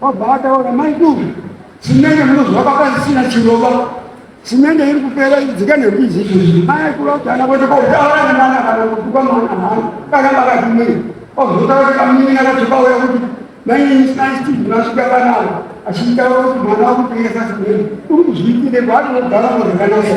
Wabva ataura mai duku simende munozwa pakasisina chirova simende iri kupera idzika nembizi izvi mai kuvautana kwete kotaura nemwana kana kutuka mwana hano kana makatumira ozotaura kuti kamunyina kuti pauya kuti mainini sinai steve masvika panavo achitaura kuti mwana wakutengesa simende uri kuzviitire kwaanogara muzvakanaka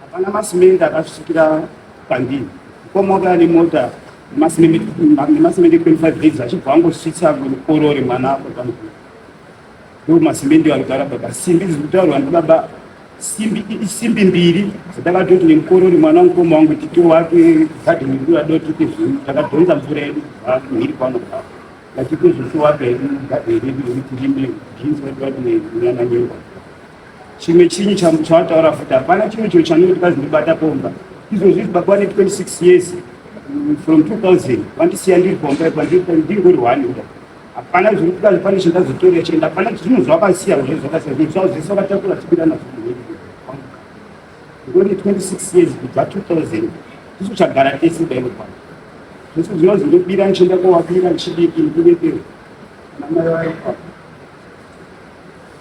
Hapana masimende akasvikira pandini. Komoka ane mota nemasimende 25 days achibva angosvitsa korore mwana apo pamukuru. Ndo masimende anogara baba. Simbi dziri kutaurwa ndibaba simbi isimbi mbiri dzatakatoti nemukorori mwana mukoma wangu tito wake gadheni kura doti tezvii takadhonza mvura yedu mhiri kwanogara vachitozvisiwake gadheni redu rekuti rime jinsi vati vati nenyana nyengwa chimwe chinyi chawataura futi hapana chimwe chinhu chanenge tikazindibata pomba izvo zvizi baba vane 26 years mm, from 2000 vandisiya ndiri pomba ipa ndingori one uda hapana zviri kudazi pane chindazotorera chenda hapana zvinhu zvavakasiya zve zvakasiya zvinhu zvavo zvese vakatakura tibira nazvo ngori 26 years kubva 2000 tisu chagara tese daino pano zvese zvinozi ndobira ndichienda kowabira ndichidiki ndikuvepero namai vayo pano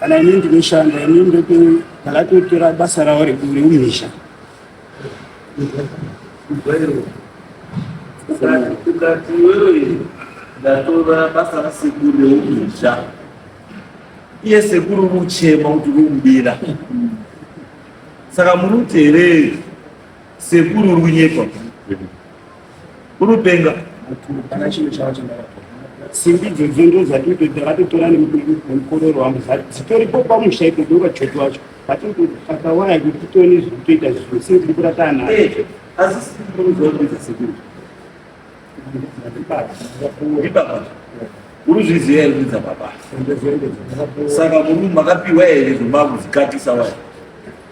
kana ini ndinoshanda ini ndakatotora basa ravo reumisha ukati wewe ndatora basa rasekuru reumisha iye sekuru muchema kuti rumubira saka muri utereri sekuru runyepa Unopenga. Kana chinhu chavo chandaka. Simbi idzodzo ndo dzatito takatotora nemukororo wangu dzitoripo pamusha ito doka choto wacho vatoti takawaya kuti titone zvekutoita zvinhu simbi tiri kuratana nayo. Eh, asi simbi tinozoa kuita sekuru. Ibaba. Uruzviziva here kuita baba. Saka muri makapiwa here zvomba kuzikatisa waya.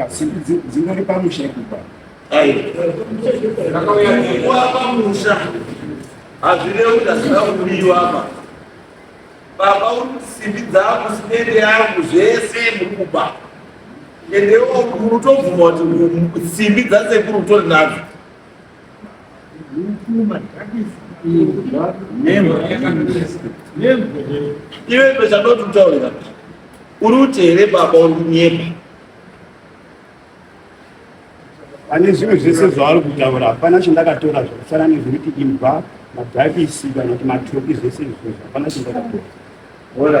Ah, dzingori pamusha ikupa ndakauyakuwa pamusha hazvirevi ndazvida kudiwa apa baba uri simbi dzangu sinende yangu zvese mukuba endewo mutobvuma kuti simbi dzasekuru utori nadzo iwe pezvanotutaurira uri kuti here baba undinyepa pane zvinhu zvese zvaari kutaura hapana chandakatora zvakasara nezvekuti imbwa madhakisi kana kuti matoki zvese izvozvo hapana chandakatora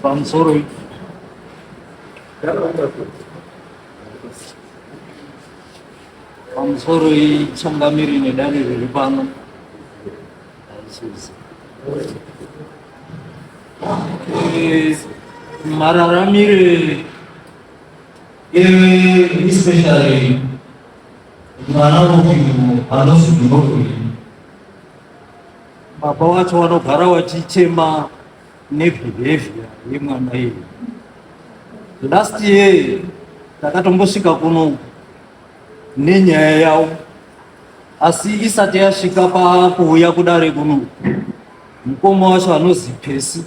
Sponsor it. Sponsor it. Changamiri nedani riri pano. mararamire especially mwana wemunhu anozidunokuri baba wacho vanogara vachichema nebehavior yemwana iyi last year takatombosvika kuno nenyaya yavo asi isati yasvika pakuuya kudare kuno mukoma wacho anozi pesi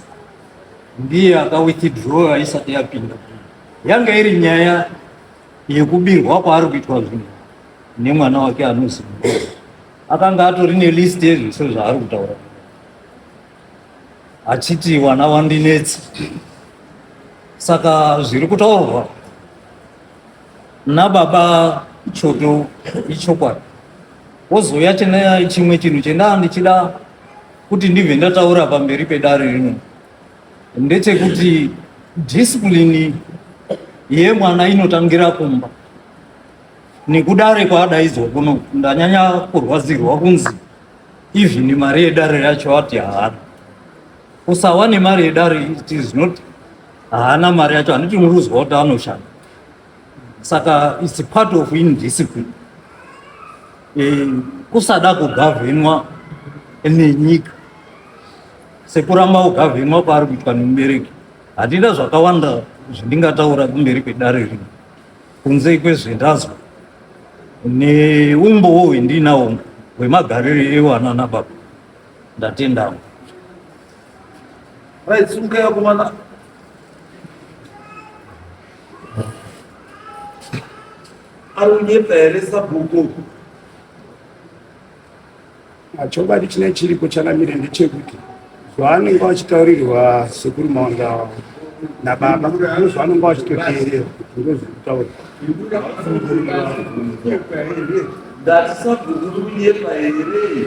ndiye akawithdrowa isati yapinda yanga iri nyaya yekubirwa kwaari kuitwa zvinhu nemwana wake anozi akanga atori nelist yezvese zvaari kutaura achiti wana wandinetsi saka zviri kutaurwa nababa choto ichokwadi wozouya tine chimwe chinhu chendaa ndichida kuti ndibve ndataura pamberi pedare rino ndechekuti dhisipulini yemwana inotangira kumba nekudare kwaadaidzwa kuno ndanyanya kurwadzirwa kunzi even mari yedare yacho ati haana Kusawa nemari yedare it is not haana mari yacho handiti unozwa kuti anoshanda saka its part of indiscipline e, kusada kugavhenwa nenyika sekuramba kugavhenwa kwaari kuitwa nemubereki handina zvakawanda zvandingataura kumberi kwedare rino kunze kwezvendazwa neumbowo hwendinawo hwemagariro ewana nababa Ndatenda. Right, sumukei akomana. Ari kunyepa here sabhuku? Chokwadi chine chiripo chanamire ndechekuti zvaanenge vachitaurirwa sekuru maondawa nababa ndozvaanenge vachitoteerera kuti ndozvekutaura ndatisabhuku kunyepa here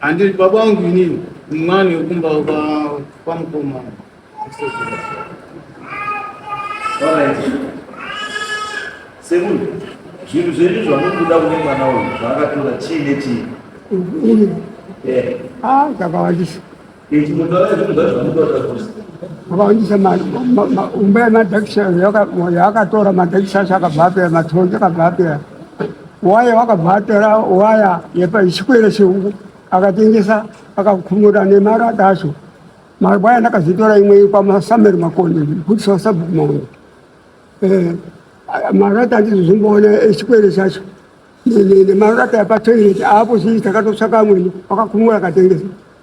Handiri baba wangu inini, mwana wekumba kwamukoma. Sekuru, zvinhu zvedu zvamuri kuda kune mwana uyu zvaakatora chii nechii? Uyu. Eh. Ah, kakawandisa. vakawanjisa umba yemadhekisha yakatora madhekisha acho akabva apera matonje akabva apera waya wakabva atora waya yepachikwere cheungu akatengesa akakhumura nemarada acho mabwaya ndakazitora imwe kwamasameri makoni bhutisi wasabhuku maona eh, marata andizozimboona echikwere eh, chacho nemarata yapatoireti aapo zii takatotsvaka amweni wakakhumura akatengesa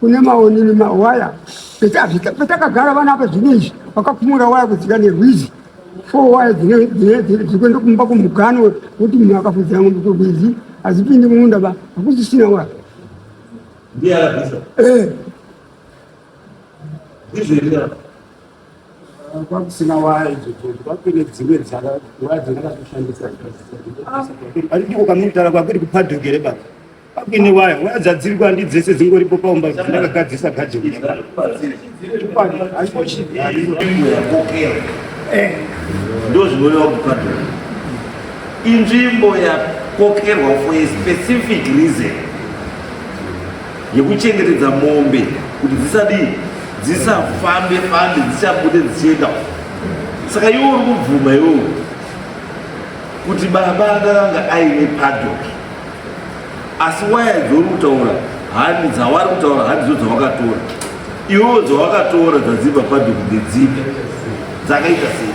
kune maonini mawaya petakagara vana apa zvino izvi vakakumura waya kudzika nerwizi four waya dzirikuenda kumba kumugano wekuti munhu akafudzira ngombe kurwizi hadzipindi mumunda ba hakusisina waya eh. kwakusina waya idzo dzodzo kwakune dzimwe dzaka waya dzandakatoshandisa ari ndiko kamutara kwakuri kupadhuke here baba kwakuine waya waya dzadziri kwandi dzese dzingoripo paumba dzandakagadzisa gadheni ndozvinorewa kupadhuke inzvimbo yakokerwa for a specific reason yekuchengetedza mombe kuti dzisadii dzisafambe fambe dzichabude dzichienda saka iwo uri kubvuma iwowo kuti baba akanga aine padok asi waya dzouri kutaura handi dzawari kutaura handi dzo dzawakatora iwowo dzawakatora dzadzibva padok ndedzipi dzakaita sei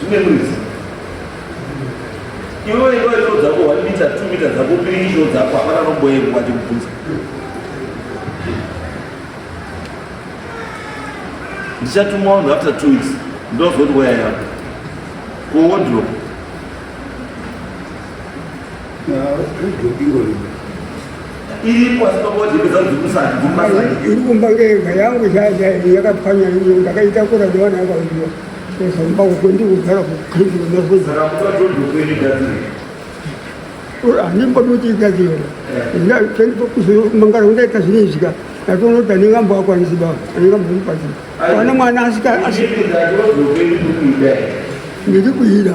zvine muridzi iwe iwe ndo dzako one mita two mita dzako pirisho dzako hapana nomboyeko vachikubvunza ndichatuma vanhu after two weeks ndozoti waya yako kuwodrop iri kumba kega yangu shasha yakapwanya iyo ndakaitakura ndiwana yakauiwa sezamba uko ndikugara kuandimbodotiigazira mangara undaita zvinezvika ndatonoti andingambo akwanisi baba andingambomupazi wana mwana asika ndiri kuida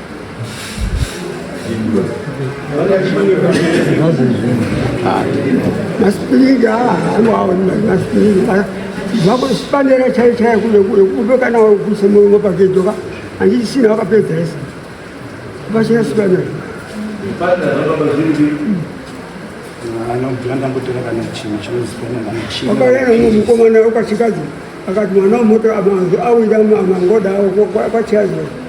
Masipirida awawa masipirida vakusipanera chai chai kule kule kube kana kuse mungo pakedoka anditi sina vakapedza ese vachina sipanera ukaena umwe mukomana ukachikadzi akati mwana wemoto amanzi awira mangoda kwachiazira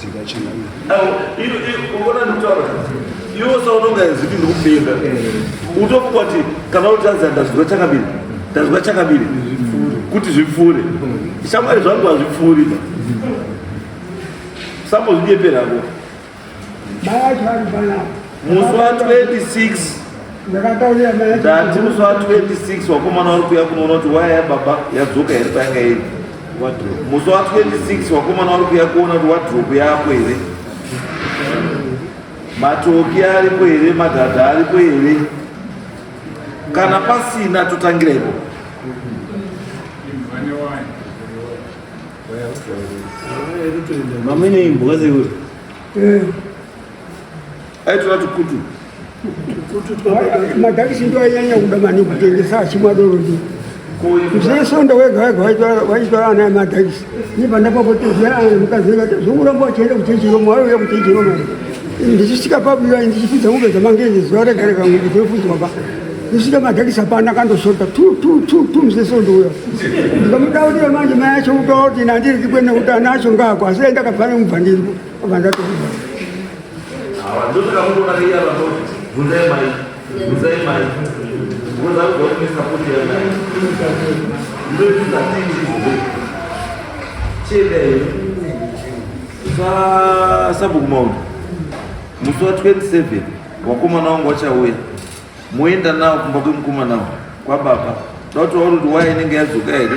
Zika china. Iyo iyo unaona mtawa. Iyo sasa unaona ziki ndio kupenda. Utokuwa ti kana utaanza ndazwa chakabili. Ndazwa chakabili. Kuti zvipfure. Shamwari zvangu hazvipfuri. Sapo zvijepera hapo. Baya chari baya. musi wa 26 ndati musi wa 26 wakomana wari kuya kunoona kuti waya yababa yadzoka here payanga iri musi wa 26 wakomana wari kuya kuona kuti wadropu yako here matoki aripo here madhadha aripo here kana pasina totangira ipo mamene imbwa zekuti aitoda tukutu madhakisi ndo ainyanya kuda mani kutengesa achimwa doro ndi zesonda wega wega waitwara ana emadhakisi nipandapapotezaa mukazeka zvokuramba wachienda kuchechiromo waiuya kuchechiromo ndichisvika pabuya ndichipidza mombe dzamangezi zuva rega rega mombe dzinofudzwa pa ndisvika madhakisa pana kandosota tu tu tu tu mzesondo uya ndikamudaurira manje mai acho utaura kuti nandiri kikwene kuti ana acho ngaako asi aindakabva nemubva ndiriko sabhuku maundu musi wa 27 wakomana wangu wachauya moenda nawo kumba kwemukomana kwababa dauti wauri kuti waya inenge yadzoka here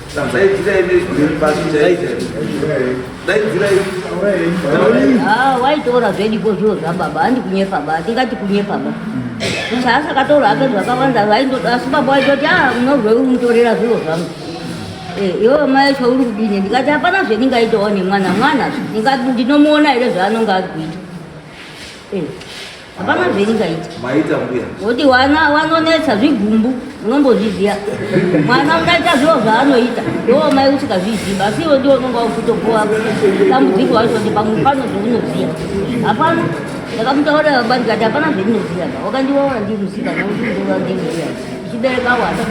Daidzirai nezwi pasi chaidzai. Daidzirai. Ah, waitora zvediko zviro zvababa handi kunyepa ba tingati kunyepa ba sasa akataura hake zvakawanda vaindoda asi baba waitoti a munozvei umutorera zviro zvangu iwewe mai zvauri kudini ndikati hapana zvendingaitawo nemwana mwana ndinomuona here zvaanonge ari kuita Hapana zviringaiti. Maita mbuya. Kuti wana wanonetsa zvigumbu unombozviziva. Mwana unaita zviro zvaanoita. Ndiwo mai usikazviziva asi iwe ndiwo unonga ukutopuwa dambudziko wacho kuti pamwe pano zvaunoziva. Hapana ndakamutaurira baba ndikati hapana zvaunoziva. Wakandiona ndiri musika ndokutoona ndiri musika. Ndichibereka wana.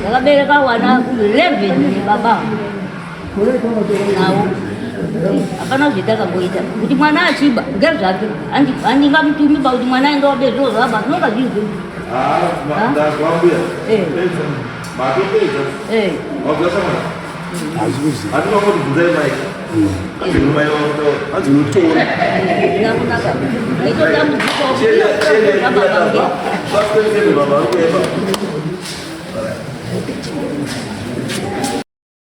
Ndakabereka wana 11 baba. hapana zvaita akamboita kuti mwana achiba ngari zvake handingamutumi ba kuti mwana aenda wabe zviro zvaba zvinonga zviri zvi aitotambudzikaoaaaaa